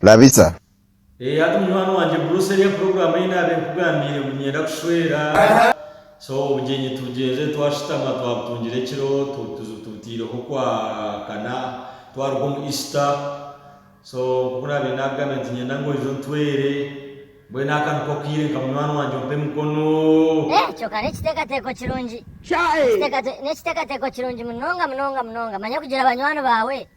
Labisa. Eeh hati munywani wangye Bruce eriya program eyi naabe nkugambiire ngu niinyenda kushweera so obugyenyi tubugyenze twashutama twabutungire ekiro tubuteireho okwa kana twaruga omu Easter so nkoku naabaire naakugambira nti niinyenda ngu oije ontweere mbwenu aka niko akaire nka munywani wangye ompe emikono. Eeh kyoka nekitekateeko kirungi. Sha eeh. Nekitekateeko kirungi munonga munonga munonga manya kugira banywani baawe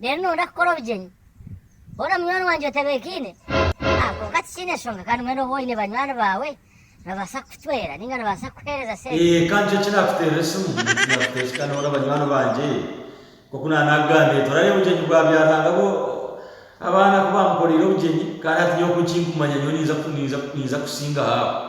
Reero nooyenda kukora obugyenyi boona munywani wangye otebeekaine? A Kwonka tikiine nshonga, kandi mbwenu oba oine banywani baawe nibabaasa kukucwera nainga nibabaasa kukuheereza sente. A Kandi nikyo kinaakuteerera esimu ninkira kuteesita noona banywani bangye. Nk'oku naaba naakugambire, torareeba obugyenyi bwa byaranga bo abaana ku baamukoreire obugyenyi, kandi hati nyowe ku nkinkumanya nyowe ninza ninza ninza kusingaho abo.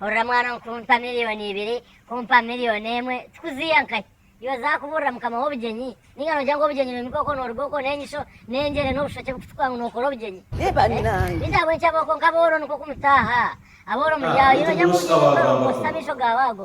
Hurira mwana omu kunta milioni ibiri kumpa milioni emwe tikuziiha nkahi? Iwe zakuburira mukama wobugyenyi ninga nogya ngu obugyenyi nohimika okwo noruga okwo nenyisho nengyere nobushoki bukutukura ngu nokora obugyenyi eh baitu ahabwenki aboo konka abooro nikwo kumutaaha abooro muryaho iwe nogya ngu obugyenyi bukurofa bukozesa amaisho gaawe ago.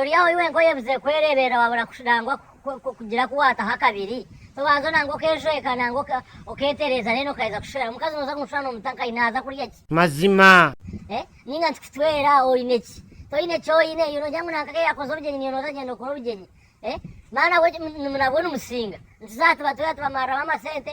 Ori aho iwe nk'oyebuze kwereeberera waabura nangwa kugira ku waataho akabiri? Tobanza nangwa okeejweka nangwa okeetereeza reero okaija kushwera? Omukazi nooza kumushwera noomuta nkahi? Naaza kurya ki? Mazima. Nainga nti kucwera oine ki? Toine ki oine? Iwe noogira ngu nanka ku yaakoze obugyenyi niiwe nooza kugyenda okore obugyenyi? Nabwo nimusinga? Nituza aha tuba twega tubamariramu amasente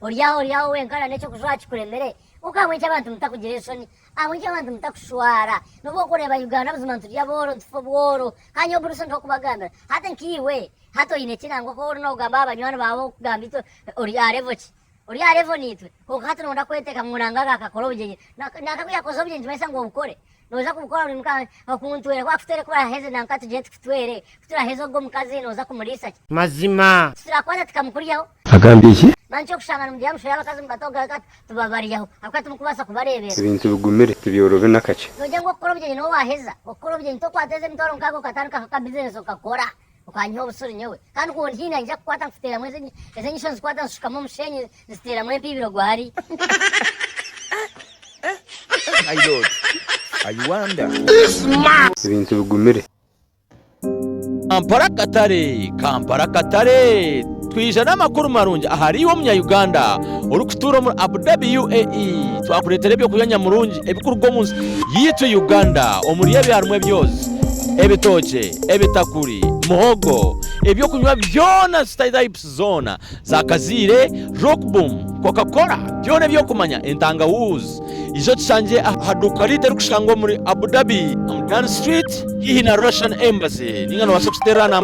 Ori aho ori aho wenka na n'eky'okujwaha kikuremire, kwonka ahabw'enki abantu mutakugira enshoni? Ahabw'enki abantu mutakushwara? Nobu orikureeba Uganda buzima niturya bworo nitufa obworo, kandi nyowe burisho ndiho kubagambira. Hati nkaiwe, hati oine ki nangwa ku ori noogamba aha banywani baawe okugamba itwe ori aha level ki? Ori aha level naitwe? Kwonka hati nooyenda kweteeka ngu nangwa akaakakora obugyenyi. Nangwa ku yaakoze obugyenyi nikimanyisa ngu obukore? Noza kubikora ori muka okuntwera kuba kutwere kubaraheze nanka tugire tukutwere kuturaheze ogo mukazi noza kumurisa ki. Mazima. Titurakwata tikamukuryaho. Agambye eki. Mani kyokushanga nimugira mushwere abakazi mubata ogo reka tubabaryaho ahakuba timukubasa kubarebera. Ebintu bigumire tibyorobi nakakye. Nogira ngu okukora obugyenyi nowe waheza okukora obugyenyi tokwateza emitwaro nkaga okatandikaho ka business okakora. Okanyiha obutsuri nyowe, kandi ku ondihiina ningira kukwata nkuteeramu ezi ezi enyisho nzikwata nzishukamu omusheenyi nziteeramu empiibiro gwari. My Lord, I wonder. Ebintu bigumire. Kampala Akatare Kampala Akatare. Twija n'amakuru marungi ahari iwe Omunya-Uganda orikutuura omuri Abu Dhabi, UAE. Twakureetera ebyokurya nyamurungi ebirikuruga omu nsi yaitu Uganda. Omuri ebyo harimu ebyozi, ebitookye, ebitakuri, muhogo, ebyokunywa byona, stypes zoona, za kaziire, rockboom, coca-cola, byona eby'okumanya, entangawuuzi. Ija otushangire aha duuka ryaitu erikushangwa omuri Abu Dhabi, omu Dhan Street, haihi na Russian Embassy, nainga noobaasa kututeerera namba.